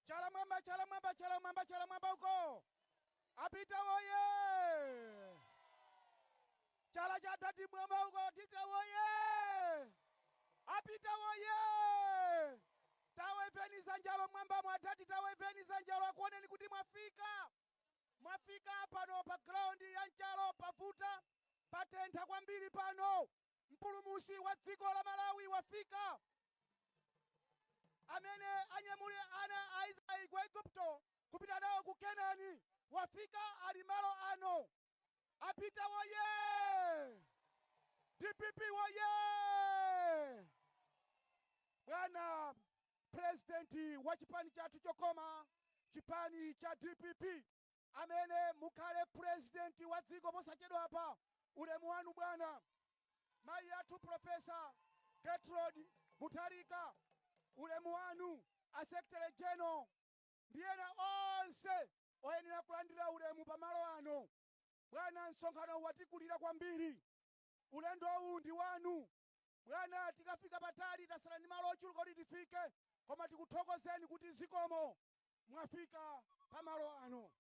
Chala mwamba, chala mwamba, chala mwamba, chala mwamba uko. A Peter woye. Chala cha adadi mwamba uko a Peter woye. A Peter woye. Taweveni dzanjalo mwambamo adadi taweveni dzanjalo akuoneni kuti mwafika. Mwafika pano pa ground ya Nchalo pavuta patentha kwambiri pano. mpulumusi wa dziko la malawi wafika amene anyamule ana a israeli ku Egypt kupita nawo ku kenani wafika ali malo ano a peter woye dpp woye bwana purezidenti wa chipani chathu chokoma chipani cha dpp amene mukhale president wa dziko posachedwapa. Ulemu wanu bwana. Mayi athu Prof. Gertrude Mutharika, ulemu wanu. A Secretary General ndi ena onse oyenera kulandira ulemu pa malo ano. Bwana, msonkhano watikulira kwambiri. Ulendowu ndi wanu. Bwana, tikafika patali, tasala ndi malo ochuluka kuti tifike, koma tikuthokozeni kuti zikomo. Mwafika pa malo ano.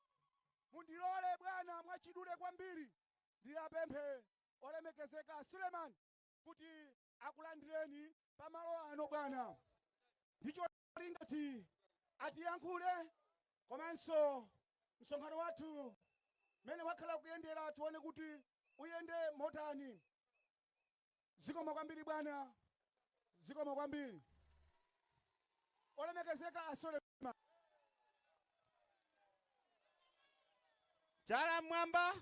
Mundilole, bwana, mwachidule kwambiri ndiwapemphe olemekezeka a Suleman kuti akulandireni pa malo ano, bwana. Ndi cho. ali ngati atiyankhule komanso msonkhano wathu mmene wakhala ukuyendera tione kuti uyende motani zikomo kwambiri bwana zikomo kwambiri olemekezeka a suleman Chala mmwamba!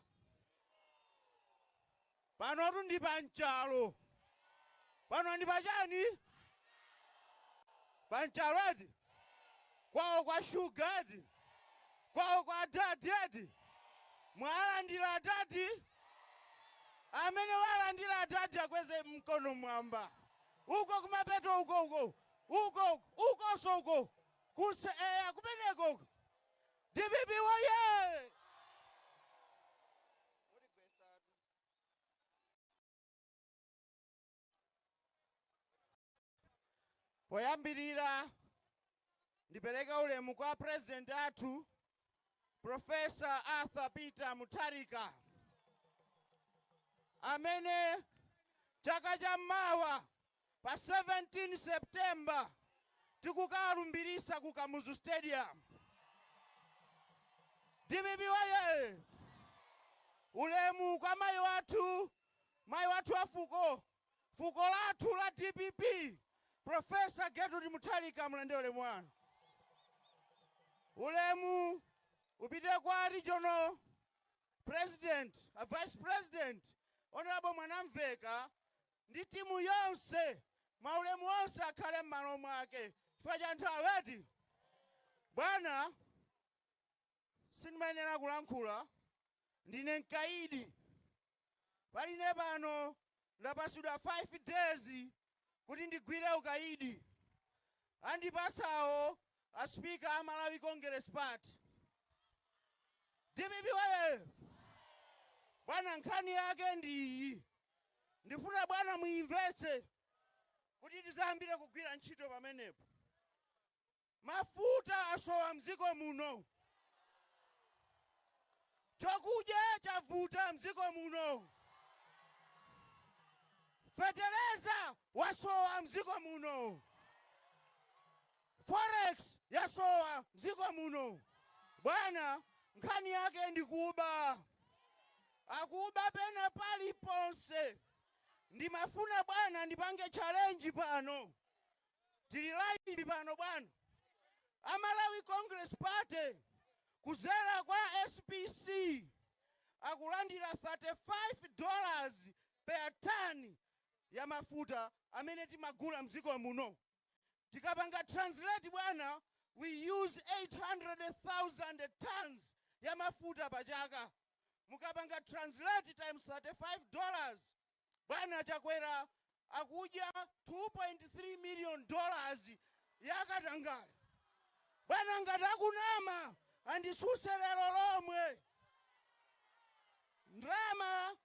Panotu ndi pa nchalo. Pano ndi pa chiyani? Pa nchalo eti? Kwawo kwa shuga eti? Kwawo kwa adadi eti? Mwalandira adadi? Amene walandira adadi akweze mkono mwamba. Uko kumapeto uko uko. Uko uko ukonso uko. Uko eya kumeneko uko dpp woyee. Poyambirira ndipereke ulemu kwa president athu Professor Arthur Peter Mutharika amene chaka cha mawa pa 17 September tikukawalumbiritsa ku Kamuzu Stadium. DPP woye! Ulemu kwa mayi athu, mayi athu a fuko fuko lathu la dpp Prof. Gertrude Mutharika mulandire ulemu wanu. Ulemu upite kwa regional president, a vice president, honorable Mwanamveka ndi timu yonse maulemu onse akhale m'malo mwake chifukwa cha nthawi eti bwana sindimayenera kulankhula ndine mkaidi panopa pano ndapasidwa 5 days kuti ndigwire ukaidi andipatsawo a speaker a Malawi Congress Party dpp woyee! Bwana nkhani yake ndi iyi ndifuna bwana muimvetse kuti tidzayambire kugwira ntchito pamenepo. Mafuta asowa mdziko muno. Chokudya chavuta mdziko muno. Feteleza wasowa mdziko muno. Forex yasowa mdziko muno. Bwana nkhani yake ndi kuba. Akuba pena paliponse. Ndimafuna bwana ndipange challenge pano. tili live pano bwana. A Malawi Congress Party kuzera kwa SPC akulandira 35 dollars per ton ya mafuta amene timagula mdziko muno. Tikapanga translate bwana, we use 800,000 tons ya mafuta pa chaka. Mukapanga translate times 35 dollars Bwana Chakwera akudya 2.3 million dollars ya katangale. Bwana ngati ndikunama andisuse lero lomwe. Ndalama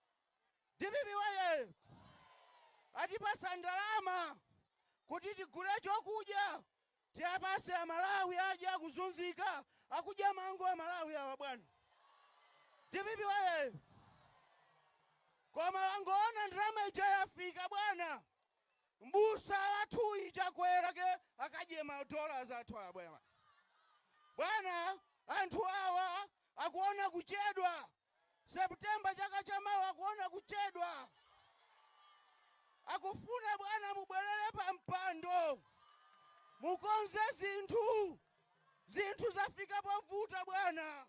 dpp woye! Atipasa ndalama kuti tigule chokudya Tiapase amalawi adye akuzunzika akudya mango amalawi awa bwana dpp woyee koma wangoona ndalama ija yafika bwana mbusa wathuyu chakwera kwake akudya ma dollars athu awa bwana bwana anthu awa akuona kuchedwa September chaka cha mawa akuona kuchedwa akufuna bwana mubwelele pa mpando mukonze zinthu zinthu zafika povuta bwana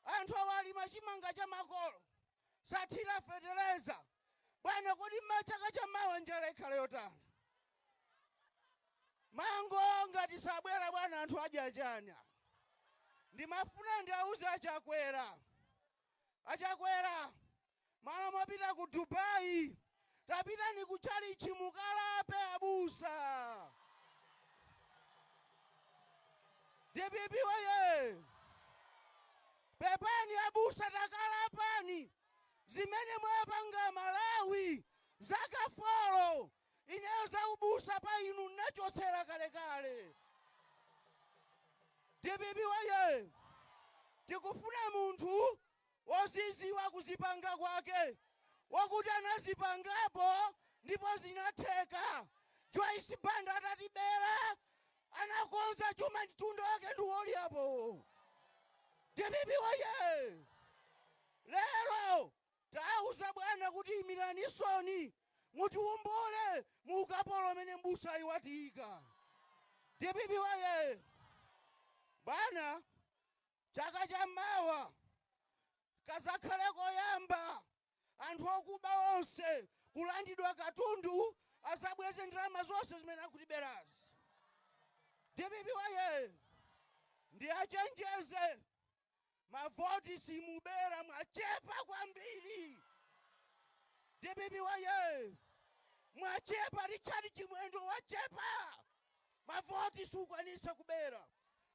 anthu awa alima chimanga cha makolo sathira feteleza Bwana kodi chaka cha mawa njala ikhala yotani? Mango ngati sabereka bwana anthu adya chani apa? Ndimafuna ndiauze a Chakwera. A Chakwera malo mopita ku Dubai tapitani ku chalichi mukalape abusa. Dpp woyee! Pepani abusa takalapani zimene mwawapanga amalawi zaka folo ineyo za ubusa pa inu nnachotsa kalekale dpp woyee tikufuna munthu woziziwa kuzipanga kwake wokuti anazipangapo ndipo zinatheka Joyce Banda atatibera Anakonza chuma ni ntundu wake ndi wolyapo. Dpp woyee! Lero tawauza bwana kuti imiranisoni mutiwombole mu ukapolo omwe m'busayu watiyika. Dpp woyee! Bwana, chaka cha mawa kadzakhale koyamba anthu okuba onse, kulandidwa katundu azabweze ndalama zonse zimene akutiberazi. Dpp woyee! Ndiachenjeze mavoti simubera mwachepa kwambiri. Dpp woyee! Mwachepa Richard Chimwendo wachepa mavoti siukwanisa kubera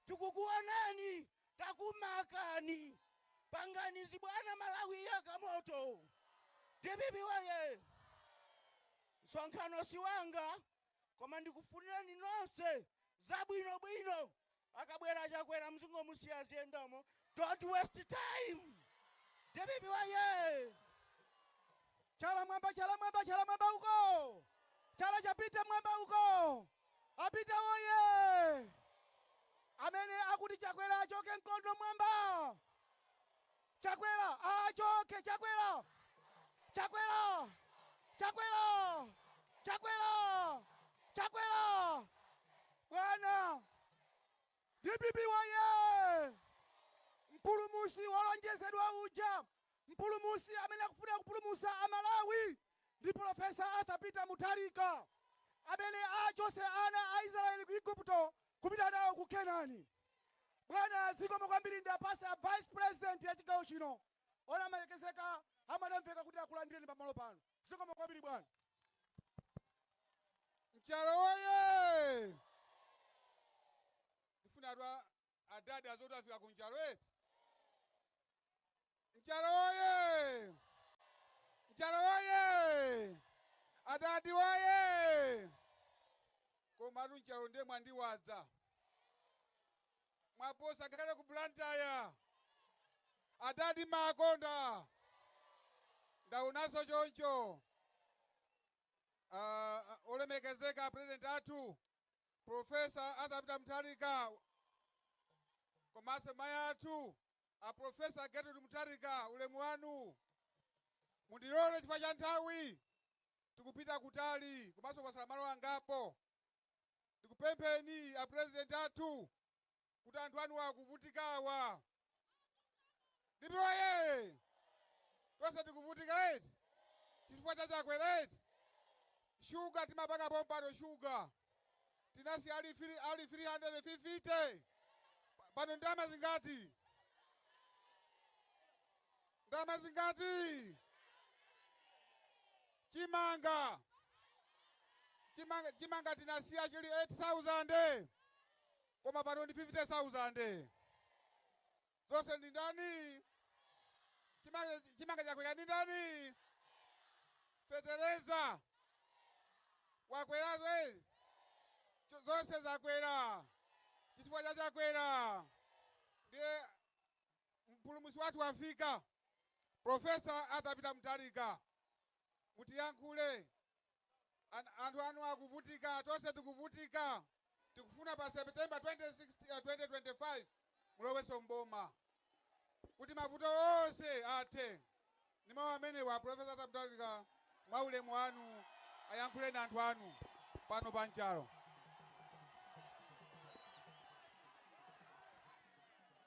tikukuonani Takumakani. Pangani zibwana Malawi ayaka moto dpp woyee! Msonkhano siwanga koma ndikufunireni nonse zabwino bwino akabwera Chakwera mzingomusiya aziyendamo don't waste time dpp woyee! Chala mwamba chala mwamba chala mwamba uko chala chipite mwamba uko. A peter woyee! Amene akuti chakwera achoke mkono mwamba! Chakwera aachoke chakwera! Chakwera! Chakwera! Chakwera! Chakwera! Bwana! Dpp woyee! Mpulumusi wolonjezedwa uja! Mpulumusi amene akufuna kupulumusa a Malawi! ndi Pulofesa Arthur Peter Mutharika, amene achotse ana a Israel ku Igupto kupita nawo ku Kenani. Bwana, zikomo kwambiri ndiwapase a Vice President a chigawo chino olemekezeka a Mwanamvekha kuti akulandireni pamalo pano. Zikomo kwambiri bwana. Mchalo oye! Ndifuna atwa Adadi azoti afika ku Nchalo eti? Nchalo oye! Nchalo oye! Adadi oye! Komatu Nchalo ndiye mwandiwaza. Mwaposa ngakhale ku Blantyre. Adadi makonda. Ndaonanso choncho. Ah, ah, olemekezeka president athu Professor Arthur Peter Mutharika komanso mayi athu a Professor Gertrude Mutharika, ulemu wanu. Mundilole chifukwa cha nthawi tikupita kutali komanso kwatsala malo angapo. Ndikupempheni a President athu kuti anthu anuwa akuvutikawa ndipo yee tonse tikuvutika eti chifukwa cha Chakwera eti shuga timapanga pompano shuga tinasiya ali 350 pano ndalama zingati ndalama zingati chimanga chimanga chimanga tinasiya chili 8000 Koma pano ndi fifite sauzande. Zonse ndi ndani? Chimanga, chimanga chakwera ndi ndani? Fetereza wakwera zwe zonse zakwera chifukwa cha Chakwera. Ndiye mpulumutsi wathu wafika. Profesa Arthur Peter Mutharika mutiyankhule anthu anu akuvutika tonse tikuvutika tikufuna pa september 2016, eh, 2025 mulowenso mboma kuti mavuto onse athe ndi mawu amenewa profesa Arthur Mutharika mwa ulemu wanu ayankhuleni anthu anu pano pa Nchalo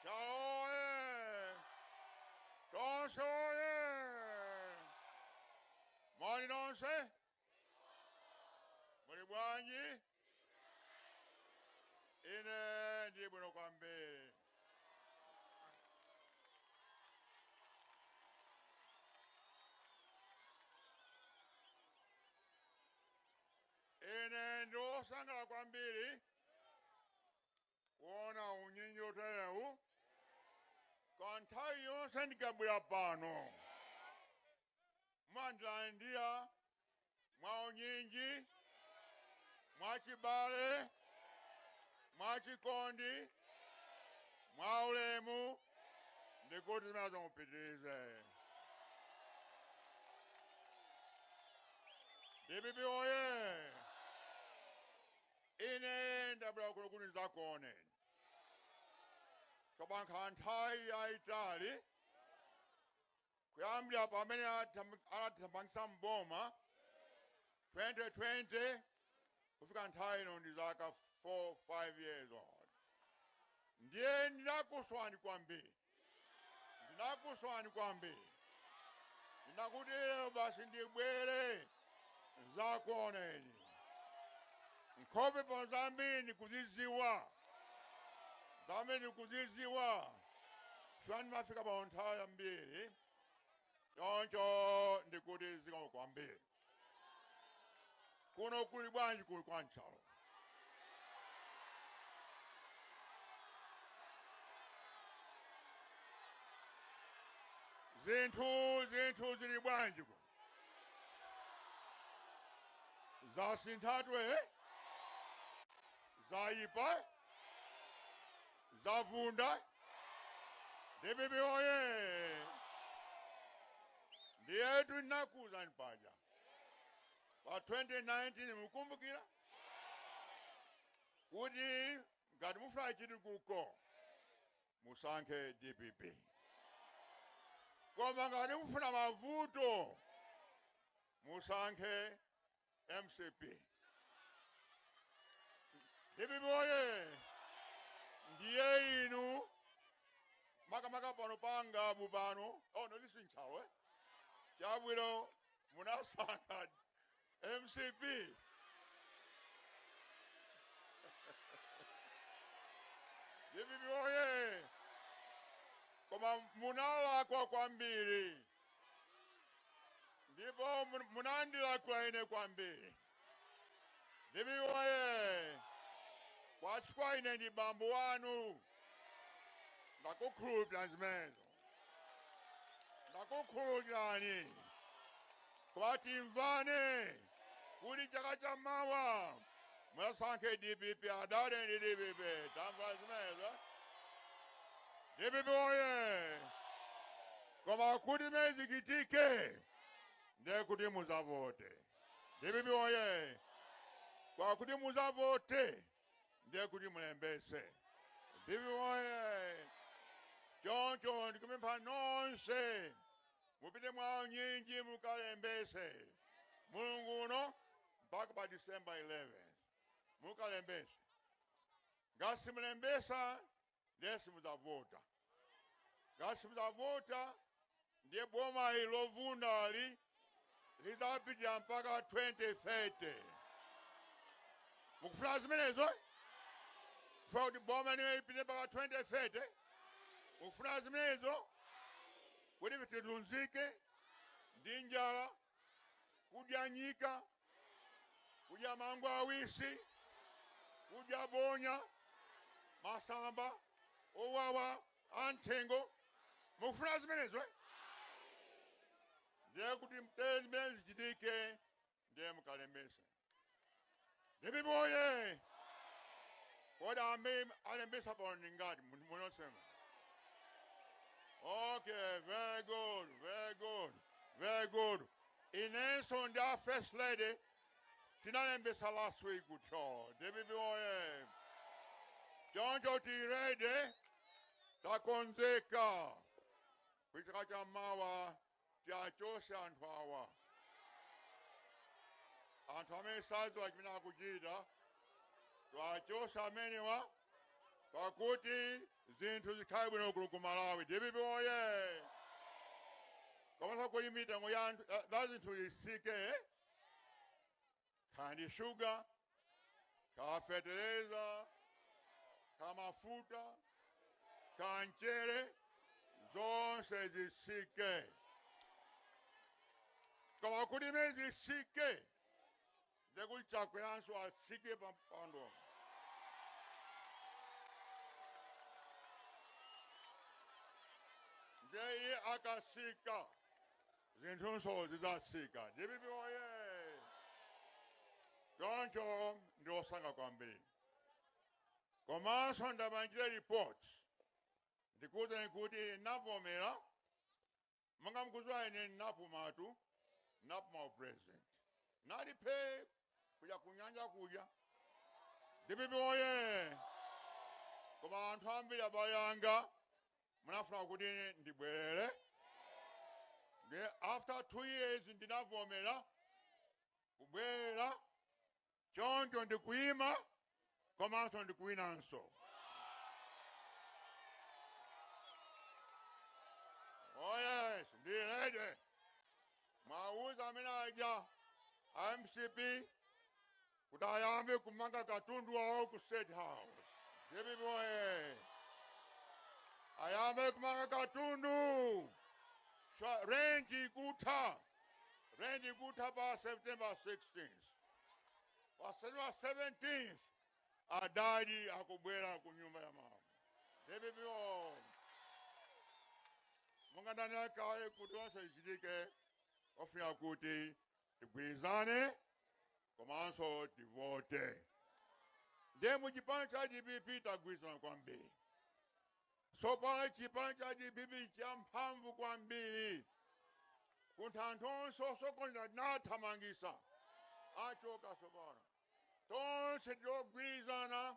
Nchalo oye! Tonse oye! Moni nonse? Muli bwanji? Ine ndili bwino kwambiri. Ine ndili wosangalala kwambiri kuona unyinji woterewu kwa nthawi yonse ndikabwera pano mumandilandira mwa unyinji mwa chibale mwa chikondi mwa ulemu ndikuti zimenezo mupitirize dpp oye Ine ndabwera kuno kuti ndidzakuoneni. Papita nthawi yaitali kuyambira pamene anatithamangitsa m'boma 2020 kufika nthawi ino ndi zaka 4 5 years ndiye ndinakusowani kwambiri Ndinakusowani kwambiri. Ndinati lero basi ndibwere ndidzakuoneni. Nkhope pano zambiri ndikuzidziwa. Zambiri ndikuzidziwa. Chifukwa ndimafika pano nthawi yambiri. Choncho ndikuti zikomo kwambiri. Kuno kuli bwanji kuno kwa Nchalo? Zinthu zinthu zili bwanji kuno? Zasinthatu eh? Zayipa? Zavunda? DPP oye! Ndiyetu ndinakuuzani paja pa 2019 mukumbukira kuti ngati mufuna chitukuko musankhe dpp koma ngati mufuna mavuto musankhe mcp dpp oye ndiye inu makamaka pano pa ngabu pano oh ndi nchalo eh chabwino munasankha mcp dpp oye koma munalakwa kwambiri ndipo munandilakwira ine kwambiri dpp oye koma chifukwa ine ndi bambo wanu ndakukhululukirani zimenezo ndakukhululukirani koma timvane kuti chaka cha mawa mudzasankhe dpp adadi ndi dpp tamvana zimenezo dpp oye koma kuti zimenezi zichitike ndiye kuti muzavote dpp oye koma kuti muzavote ndiye kuti mulembese dpp oye choncho ndikupempha nonse mupite mwaunyinji mukalembese mulungu uno mpaka pa december 11 mukalembese ngati simulembesa ndiye simudzavota ngati simudzavota ndiye boma ili lovundali lidzapitirira mpaka 2030 mukufuna zimenezo kufuna kuti boma limene lipite mpaka 2030 mukufuna zimenezo kuti tivutike ndi njala kudya nyika, kudya mango awisi, kudya bonya, masamba owawa anthengo. Mukufuna zimenezo eh? ndiye kuti muthe zimenezi zichitike ndiye mukalembetse Dpp oye! Kodi amene alembesa pano ndi angati mu- munosema? Okay, very good, very good, very good. Inenso ndi a first lady tinalembesa last week ku Thyolo. Dpp oye! Choncho tili ready takonzeka kuchaka cha mawa tiwachose anthu awa. Anthu amene sadziwa chimene akuchita tiwachose amenewa pakuti zinthu zikhale bwino kuno ku Malawi. DPP oye! Komanso kuti mitengo ya a- ya- za zinthu isike. kaya ndi shuga kaya fetereza kaya mafuta kaya mchere zonse zisike koma kuti zimene zisike ndekuti Chakweranso asike pa mpando ndiye iye akasika zinthunso zidzatsika. Dpp woyee! Choncho ndine osangalala kwambiri. Komanso ndipangire report ndikuwuzeni kuti ndinavomera, monga mukudziwa ine ndinapumatu, ndinapuma u president. Ndinali phee kuja ku nyanja kuja. Dpp woyee! Koma anthu ambiri abale anga munafuna kuti ndibwerere ndiye after two years ndinavomera kubwerera choncho ndikuyima komanso ndikuwinanso oh yes ndili ready muwauze amene aja a mcp kuti ayambe kumanga katundu wawo ku state house dpp oye ayambe kumanga katundu Chwa- rent ikutha rent ikutha pa september 16 pa september 17 adadi akubwera ku nyumba ya mama dpp oye mwangandanira kale kuti zonse zichitike ofuna kuti tigwirizane komanso tivote ndiye mu chipani cha dpp tagwirizana kwambiri tsopano chipani cha dpp champhamvu kwambiri chifukwa anthu onse osokonera tinawathamangitsa achoka tsopano tonse tili ogwirizana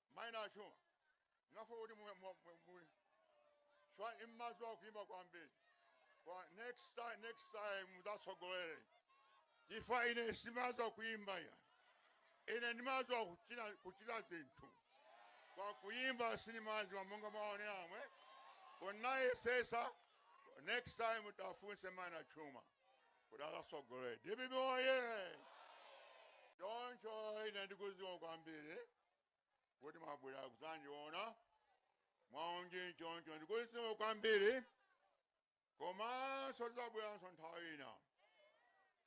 mai Nachuma ngafo kuti mu- mu- mu- mu- chifukwa mumadziwa kuimba kwambiri kwa next time next time mudzatsogolere chifukwa ine sindimadziwa kuimba ya ine ndimadziwa kuchita kuchita zinthu koma kuimba sindimadziwa monga mwaonera amwene ndinayesetsa next time muwafunse mai Nachuma kuti adzatsogolere dpp oye choncho ine ndikudziwa kwambiri kuti mwabwera kudzandiona mwa unyinji choncho ndikuti zikomo kwambiri komanso tidzabweranso nthawi ina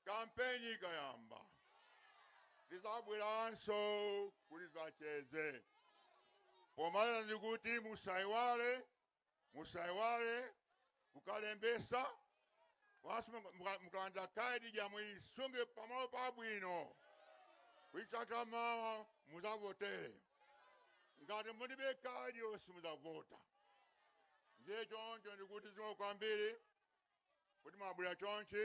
kampeni ikayamba tidzabweranso kuti tidzacheze pomaliza ndikuti musaiwale musaiwale kukalembetsa basi muka- muka- mukalandira ka ID ija muisunge pamalo pabwino kuti chaka chamawa mudzavotere ngati mulibe ka ID oti simudzavota ndiye choncho ndikuti zikomo kwambiri kuti mwabwera chonchi